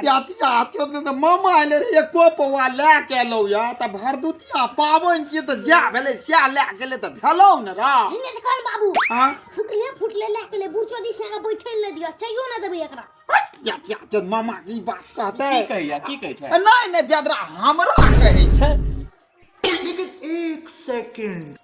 प्यातिया चोद तऽ मामा आइले रे एको पौआ लए के एलौ या तऽ भरदुतिया पावन छियै तऽ जा भेलै सएह लए गेलै तऽ भेलौ ने रा हिने तऽ कहल बाबू हाँ फुटले फुटले लए के ले बुढ़चो दिस लगा बैठे ले दियो चाहियो ना देबै एकरा प्यातिया चोद मामा के ई बात कहतै की कहैया की कहै छै ए, नहि नहि बेदरा हमरा कहै छै लेकिन एक सेकंड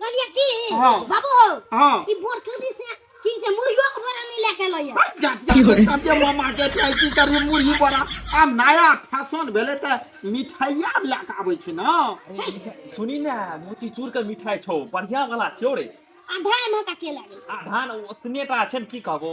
कहलिए की हां बाबू हो हां ई भोरचुदी से की के मुर्गियो के बोरा नहीं लेके लइए जाते मामा के खाई की करी मुर्गी बोरा आ नया फैशन भेले त मिठाइया लेके आबै छै ना सुनी ना मोती चूर के मिठाई छौ बढ़िया वाला छौ रे आधा एमे का के लागे आधा ओतने टा छै की कहबो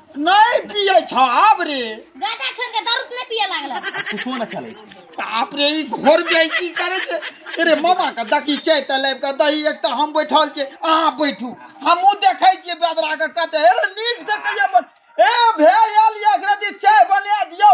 नहीं पिए छ आब रे गादा छोड़ के दारू नहीं पिए लागल कुछो न चले छै बाप रे ई घर में की करे छै अरे मामा के दकी चाय त लेब के दही एक त हम बैठल छै अहाँ बैठू हमहू देखै छियै बेदरा के कते अरे नीक से कहिया बन ए भेल एकरा दी चाय बना दियौ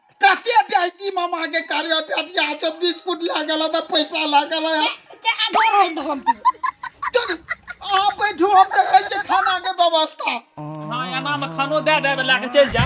कते बेटी मामा के करबे बेटी आ जो बिस्कुट लए गेल त पैसा लए गेल ते आगे है तो हम आ बैठो हम देखै छै खाना के व्यवस्था हां एना में खानो दे देबे लए के चल जा